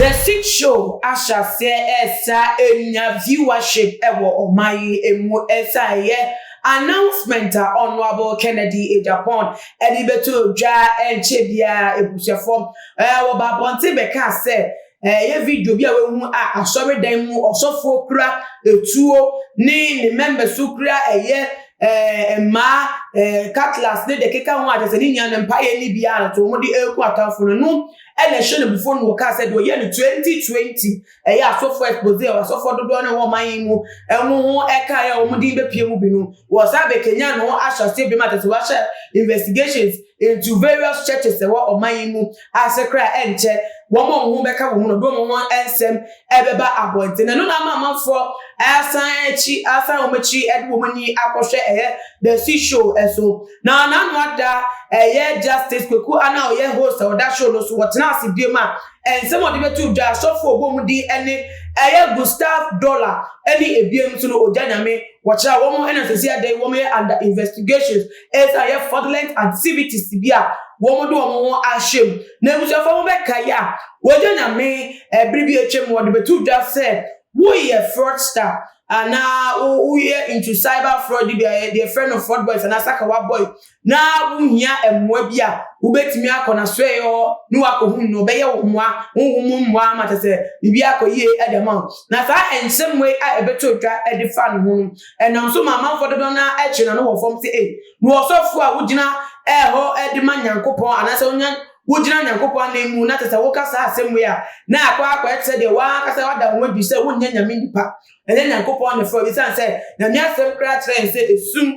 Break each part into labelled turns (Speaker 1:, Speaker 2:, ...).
Speaker 1: The Six Show ahyɛ aseɛ ɛresa anya viewership wɔ ɔman yi mu ɛsan ɛyɛ announcement a Honourable Kennedy Agyapong ɛde bɛtoo dwa ɛnkyɛ biara abusuafoɔ wɔ ba abɔnten bɛkaa sɛ Ɛyɛ video bi a wahu a asɔredan mu ɔsɔfoɔ kura etuo ne ne mmɛmma so kura ɛyɛ ɛɛ mmaa ɛɛ cutlass ne deɛ keka ho a kyerɛ sɛ ne nyinaa no mpaeɛ ne bi ara nso wɔde ɛreko atamfo no no ɛna ɛhyɛ no bufuo no wɔkaa sɛ deɛ ɔyɛ no 2020 ɛyɛ asɔfoɔ expose a asɔfoɔ dodoɔ no wɔ ɔman yi mu ɛho ho ɛka yɛ wɔn din bɛpie mu bi no wɔsan bɛkanya no ahyɛ aseɛ bi ma kyerɛ sɛ wɔahyɛ investigations Ntu various churches ɛwɔ ɔman yi mu a sɛ koraa ɛnkyɛ wɔn a wɔn ho bɛka wɔn mu no de wɔn ho nsɛm ɛbɛba abɔnten. Ɛno na ama amanfoɔ asan akyi asan wɔn akyiri ɛde wɔn ani akɔhwɛ ɛyɛ The Sea Show ɛso. Na n'ano ada ɛyɛ Justice Kweku Anah a ɔyɛ host a ɔda show no so wɔtena ase biom a nsɛm a ɔde bɛto dwa asɔfo a ɔbɔ wɔn din ɛne ɛyɛ Gustav Dollar ɛne ɛbiom nso no ɔgya nyame wɔkyerɛ a wɔn ɛna sɛsi ada yi wɔn yɛ under investigations Ebia ɛyɛ fraudulent activities bi a wɔde wɔn ho ahyɛ mu. Na abusuafo no bɛkae a, wɔagye anyame bere bi a atwam no, wɔde bɛto dwa sɛ woyɛ fraudster anaa woyɛ into cyber fraud bi a yɛ deɛ frɛ no fraud boys anaa sakawa boy na wohia mmoa bi a wobɛtumi akɔ n'asoɛeɛ hɔ ne wakɔhu no ɔbɛyɛ wo mmoa honhom mu mmoa ama kyɛ sɛ biribi akɔ yie de ama wo na saa nsɛm wei a ɛbɛtɔ dwa de fa ne ho no Ɛnam so ma amanfoɔ dodoɔ no ara kyerɛ n'ano wɔ fam sɛ, Ei, mewɔ ɔsɔfoɔ a wogyina hɔ de ma Nyankopɔn, anaasɛ wonya, wogyina Nyankopɔn ananmu, na te sɛ woka saa asɛm wei a, na akɔ ara akɔyɛ te sɛ deɛ w'ankasa woada wo ho adi sɛ wonyɛ Nyame nipa, ɛnyɛ Nyankopɔn na ɛfrɛ wo, esiane sɛ Nyame asɛm koraa kyerɛ yɛn sɛ esum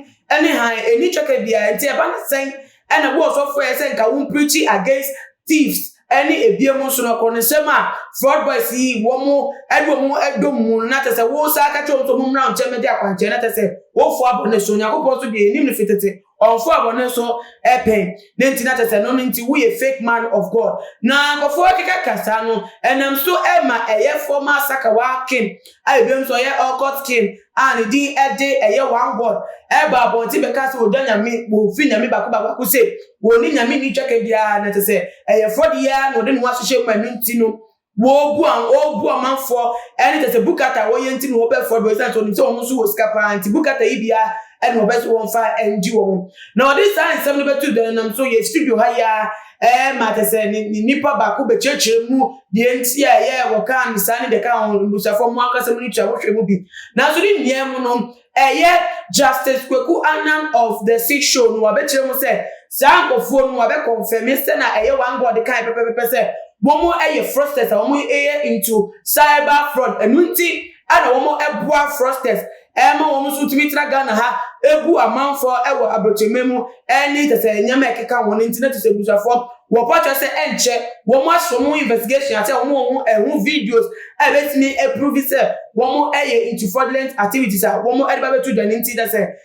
Speaker 1: ne hann nni twɛka biara nti, ɛba no sɛn Ɛna wo ɔsɔfo yɛ sɛ nka wo preachi against thieves ɛne ebiem nso no koronesɛm a fraud boys yi wɔn mo ɛde wɔn mo ɛdɔ mu mu no na kyɛsɛ wo saa ka kyerɛ wɔn sɛ wɔn mmra wo nkyɛn mɛdi akwankyɛn na kyɛsɛ wo foa bɔne so Onyankopɔn nso deɛ yɛnim no fi tete ɔnfoa bɔne so ɛ pɛn ne nti na kyɛsɛ no no nti wo yɛ fake man of God na nkɔfo ɛkeka ka saa no ɛnam so ɛma ɛyɛ former sakawa kin a ebiem nso ɔyɛ ocult kin a ne din de ɛyɛ one God ɛba abɔnten bɛka sɛ ɔdɔ nyame wɔn fi nyame baako baako baako sɛ wɔn ne nyame ni twɛkɛ biara na te sɛ ɛyɛ fɔde yi ara na ɔde ne ho ahyehyɛ mu ɛno nti no wɔbu a wɔbu amanfoɔ ɛne te sɛ bukata wɔyɛ nti na wɔbɛ fɔde wɔsan sɛ ɔnim sɛ wɔn nso wɔ sika paa nti bukata yi biara ɛna wɔbɛ so wɔn fa ɛngye wɔn na ɔde saa nsɛm no bɛtu dɛn nam so yɛ studio ha yi ara Ɛɛ, ma te sɛ ne ne nipa baako bɛkyerɛkyerɛ mu deɛ nti a ɛyɛ a wɔkaa no saa ne deɛ ɛkaa ho mmusuafoɔ a mo ankasa mo ne tua wohwɛ mu bi. Nanso ne nyinaa mu no, ɛyɛ Justice Kweku Annan of The Six Show no, wabɛkyerɛ mu sɛ saa nkorɔfoɔ no, wabɛkɔnfɛme sɛ na ɛyɛ One God kaeɛ pɛpɛpɛpɛ sɛ wɔn yɛ fraudsters a wɔn yɛ into cyber fraud. Ɛno nti, ɛna wɔn ɛboa frosters ɛma wɔn nso tumi tra Ghana ha ɛgu amanfoɔ ɛwɔ abrokyɛmɛ mu ɛne sɛsɛ nneɛma ɛkeka wɔn nti na tisɛ busafoɔ wɔpɔ kyerɛ sɛ ɛnkyɛ wɔn aso wɔn investigation asɛ wɔn wɔn ɛho videos ɛbɛtumi ɛprovi sɛ wɔn ɛyɛ into fraudulent activities a wɔn ɛde ba bɛto dwa ne nti sɛsɛ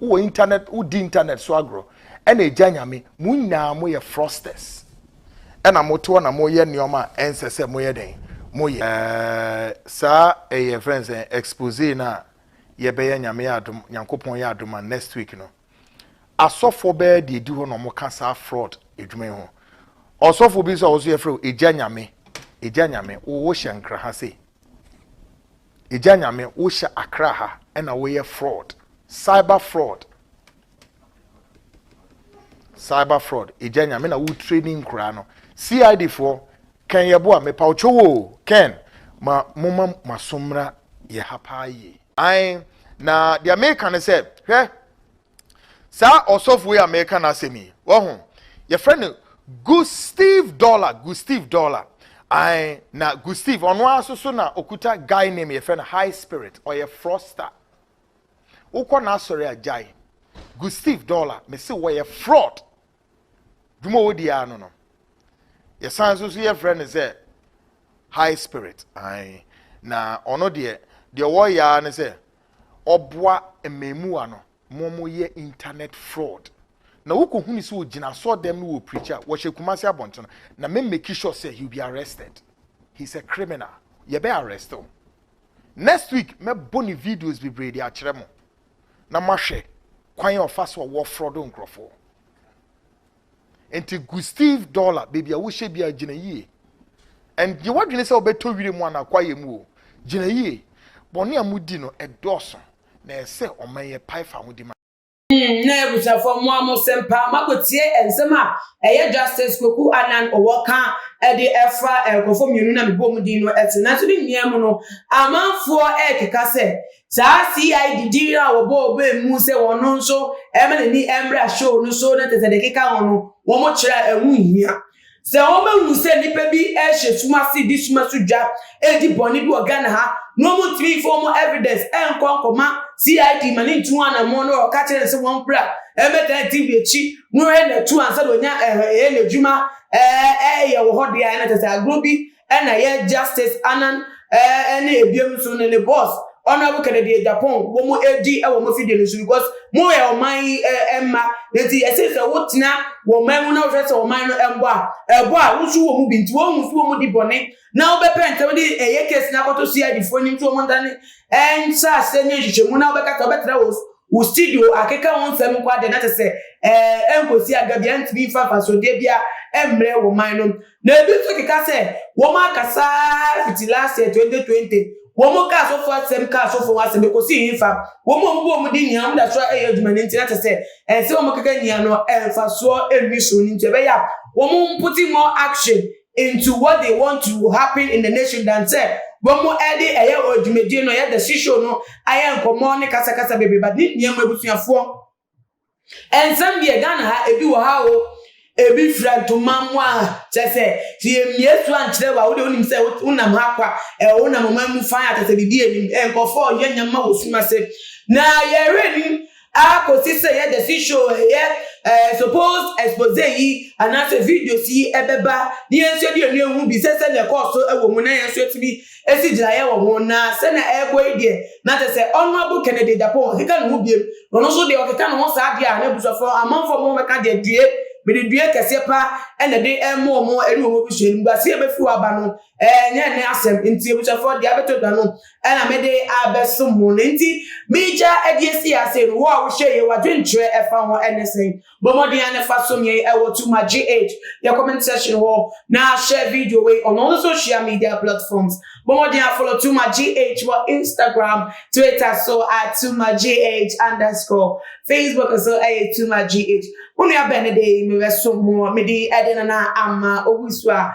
Speaker 2: wowɔ internet wodi internet so agorɔ ɛna agya nyame mo nyinaa mo yɛ frosters ɛna mo toɔ na mo yɛ nneɛma a ɛnsɛ sɛ mo yɛ dɛn mo yɛ ɛɛ saa ɛyɛ fɛn sɛ expose na yɛbɛyɛ nyame yɛ adom nyankopɔn yɛ adom a next week no asɔfoɔ bɛyɛ deɛ di hɔ na wɔn ka saa fraud adwuma yi ho ɔsɔfo bi nso a wɔso yɛfrɛ o agya nyame agya nyame wo hyɛ nkra ha sei. Egya Nyame wo hyɛ Accra ha ɛna wo yɛ fraud cyber fraud cyber fraud Egya Nyame na wo training nkura no CID foɔ Ken yɛ boa me paw kyew oo Ken ma mo ma maso mmra yɛ ha paa yie. Ae na deɛ meka ne sɛ hwɛ Saa ɔsɔfo yi a meka n'asɛm yi, wahu, yɛfrɛ no Gustav Dollar, Gustav Dollar. Ae, na Gustav, ɔno ara so so na okuta guy name yɛfrɛ no High Spirit, ɔyɛ fraudster. Wokɔ n'asɔre a gyae. Gustav Dollar, mese wɔyɛ fraud, dwuma a wɔdi ara no no yɛsan so so yɛfrɛ no sɛ high spirit ae na ɔno deɛ deɛ wɔyɛ ara ne sɛ ɔboa mmɛmuwa no ma wɔyɛ internet fraud na wokɔhunu sɛ ɔgyina sɔ dɛm no wɔ preach a wɔhyɛ kumase abɔnten na me make sure sɛ he will be arrested he's a criminal yɛbɛ arrest o next week mɛbɔ ne videos bebree de akyerɛ mo na mahwɛ kwan a ɔfa so a wɔfrɔdo nkurɔfoɔ. Nti gu Steve Dollar baabi a wohyɛ biara gyina yie. Ɛnyɛ w'adwene sɛ wobɛtɔ wire mu anaa kwaeɛ mu o, gyina yie. Bɔne a modi no ɛdɔɔso na ɛyɛ sɛ ɔman yi ɛpae fa ahodi ma. Mm na
Speaker 1: abusuafoɔ mo a mo sɛm paa mako tie nsɛm a ɛyɛ Justice Kweku Annan ɔwɔ ka ɛde ɛfa nkurɔfoɔ mmienu na me bɔɔ mo din no ɛto nanso ne nyinaa mu no amanfoɔ ɛɛkeka sɛ Saa CID din a wɔbɔɔ baa mu sɛ wɔn nso ɛmma n'ani mmra show no so na kyerɛ sɛ deɛ ɛkeka ho no wɔkyerɛ a ɛho nhia. Sɛ wɔbɛhunu sɛ nnipa bi rehyɛ sum ase de sum so dwa redi bɔne bi wɔ Ghana ha na wɔntumi mfa wɔn evidence nkɔ nkɔma CID ma no ntu ho anammɔn na wɔka kyerɛ no sɛ wɔmbra mmɛdan TV akyi na ɔhwɛ na atu ansa na ɔnya ɛɛ n'adwuma ɛɛ yɛ wɔ hɔ deɛ a ɛna kyerɛ sɛ agorɔ bi Ɛna yɛ Justice Annan ɛne ebiem nso ne ne boss Honourable Kennedy Agyapong wɔn ɛdi ɛwɔ wɔn afidie no so because mo yɛ ɔman yi ɛmma na nti ɛsɛ sɛ wo tena wɔ ɔman mu na wo hwɛ sɛ ɔman no ɛmbɔ a ɛbɔ a wo so wɔ mu bi nti wɔn hu so wɔn di bɔne na wo bɛ pɛ ntɛm de ɛyɛ case no akɔto CID foɔ anim nti wɔn ntane ɛnhyɛ aseɛ nyɛ nhwehwɛ mu na wo bɛka sɛ wo bɛtra wɔ wo studio akeka wo nsɛm nko adeɛ na kyɛ sɛ ɛɛ ɛnkɔsi aga bi ɛntumi nfa nfasodeɛ bia ɛmmerɛ wɔ ɔman no Na ebi nso keka sɛ wɔn akasa fiti last year twenty twenty wɔn ka asɔfo asɛm ka asɔfo ho asɛm ekosi hefa wɔn a wɔn bɔ wɔn din nyinaa wɔn da so ɛyɛ adwuma no nti na kyɛ sɛ ɛnsɛ wɔn keka nyinaa no ɛnfasoɔ ɛnni so no nti ɛbɛyɛ a wɔn mpote more action into what they want to happen in the nation than sɛ wɔn ɛde ɛyɛ wɔn adwumadie no ɛyɛ the shishow no ayɛ nkɔmɔ ne kasa kasa bebree but ne nneɛma abusuafoɔ. Ɛnsɛm deɛ Ghana ha ebi wɔ ha o ebi fira ntoma mu a kyɛ sɛ te emie so ankyerɛ wa wo deɛ wonim sɛ wonam ha kwa ɛ wonam ɔman mu fan a kyɛ sɛ biribi anim ɛ nkɔfoɔ ɔyɛ nyɛma wɔ sum ase na yɛwerɛ nim akɔsi sɛ yɛ the sea show ɛyɛ ɛ suppose expose yi anaasɛ videos yi ɛbɛba ne yɛn nso ɛde ɛnu ehu bi sɛ sɛ deɛ ɛkɔɔ so ɛwɔ mu na yɛn nso ɛtumi esi gyinaeɛ wɔ ho na sɛnea ɛrekɔ yi deɛ na kyerɛ sɛ Honourable Kennedy Agyapong akeka ne ho biom na ɔno nso deɛ ɔkeka ne ho saa deɛ a n'abusuafoɔ no amanfoɔ mo bɛka deɛ due mede due kɛseɛ pa na ɛde rema wɔn ɛne wɔn abusua animguaseɛ a ɛbɛfiri hɔ aba no ɛnyɛ ɛnɛ asɛm nti abusuafoɔ deɛ abɛtɔ dwa no ɛna mede abɛsom mo na nti megya ɛde asi ase no wo a wohyɛ yɛ wadwenkyerɛ ɛfa ho ɛne sɛn Bɔ mmɔden ara na fa som yɛn wɔ To My GH yɛ comment section hɔ na share video wei on all social media platforms. Bɔ mmɔden ara follow To My GH wɔ Instagram, Twitter so at To My GH underscore, Facebook nso ɛyɛ To My GH. Mo nua bɛn ne de mebɛsom mo, mede ɛde nana ama owusu a